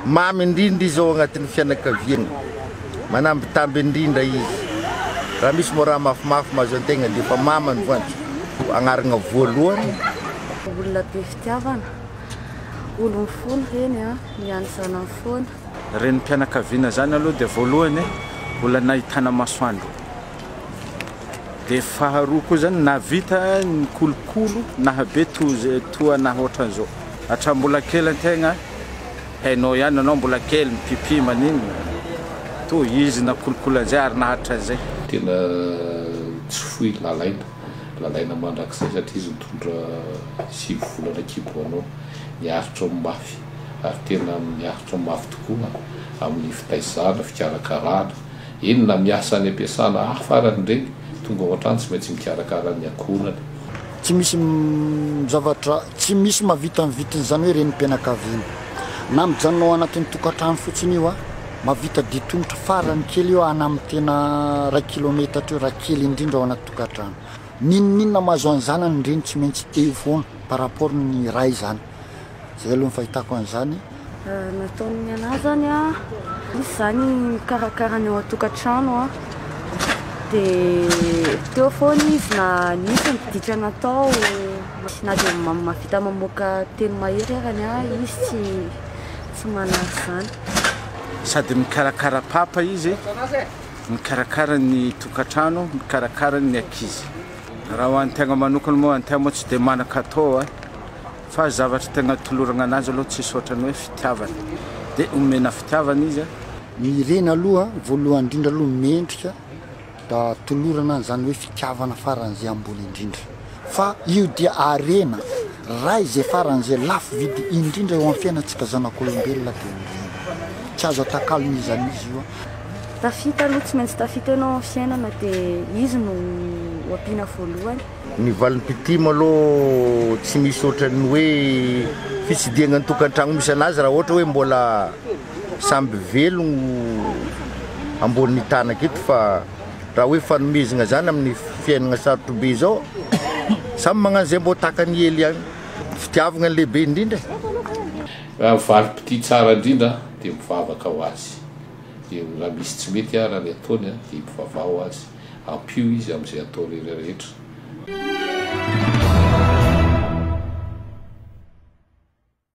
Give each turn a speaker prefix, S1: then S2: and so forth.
S1: Mamy indrindra izy ao agnatin'ny fianakaviagna, manambitamby indrindra izy. Raha misy moa raha mafimafy mahazo antegna dia efa mama ny voanjo agnaragna voalohany. Olona
S2: be fitiavana, olo mifona reny an, miany zanany foana. Renim-pianakaviana
S3: zany aloha dia voalohany olana ahitana masoandro. Dia faharoa koa izany nahavita ny kolokolo nahabe toa naha ohatran'izao. Hatramin'ny mbola kely an-tegna, hainao ihany ianao mbola kely mipipi maninona, toa izy nakolokolo an'izay ary naharitra an'izay. Tena
S4: tsy foy Lalaina, Lalaina mandrakizay satria izy nitondra sivy volana an-kibo ho anao. Niaritra ho mafy ary tena niaritra ho mafy tokoa amin'ny fitaizana, fikarakarana. Eny na miasa any ampiasana hafa ary ireny tonga ao an-trano tsy maintsy mikarakara ny ankohonany. Tsy misy
S5: zavatra tsy misy mahavita ny vitin'izany hoe renim-pianakaviana. Na mijanona ao anatin'ny tokantrano fotsiny io, mahavita dia tongotra farany kely eo ana amin'ny tena iray kilometatra eo raha kely indrindra ao anaty tokantrano. N'inon'inona mahazo an'i zanany ny reny tsy maintsy eo foana par rapport ny ray izany. Zay aloha ny fahitako an'izany. Nataon'ny
S2: anah zany a, misy izany mikarakara ny ao an-tokantrano a, dia teo foana izy na nisy ny dika natao, na dia mahavita mamoaka teny mahery aza ny ahy izy tsy tsy manary izany. Sady
S3: mikarakara papa izy, mikarakara ny tokantrano, mikarakara ny ankizy. Raha ho an'ny tegna manokana moa, ny tegna moa tsy dia manan-katao a. Fa zavatra tena tolorana ananjy aloha tsisy ohatrany hoe fitiavana. Dia omena fitiavana izy a. Ny reny
S5: aloha voalohany indrindra aloha mendrika da tolorana an'izany hoe fitiavana faran'izay ambony indrindra. Fa io dia harena, raha izay faran'izay lafo vidy indrindra eo amin'ny fiainantsika zanak'olombelona dia ny reny. Tsy azo atakalona iza n'iza io a. Tafita aloha
S2: tsy maintsy tafita ianao amin'ny fiainana dia izy no ho ampiana voalohany. Ny valin'ny mpitim
S1: aloha tsy misy ohatran'ny hoe fitsidihagna ny tokantragno misy anazy raha ohatra hoe mbola samby velogno ambonin'ny tanak eto fa raha hoe fanomezagna zany amin'ny fiaignagna sarotro be zao samy magnano zay mbô takany hely ihany fitiavagna ny lehibe indrindra e. Raha
S4: valy mpitia tsara indrindra dia mivavaka ho azy, dia raha misy tsy mety ary any ataony dia ipivavaha ho azy. Ampio izy amin'izay atao rehetrarehetra.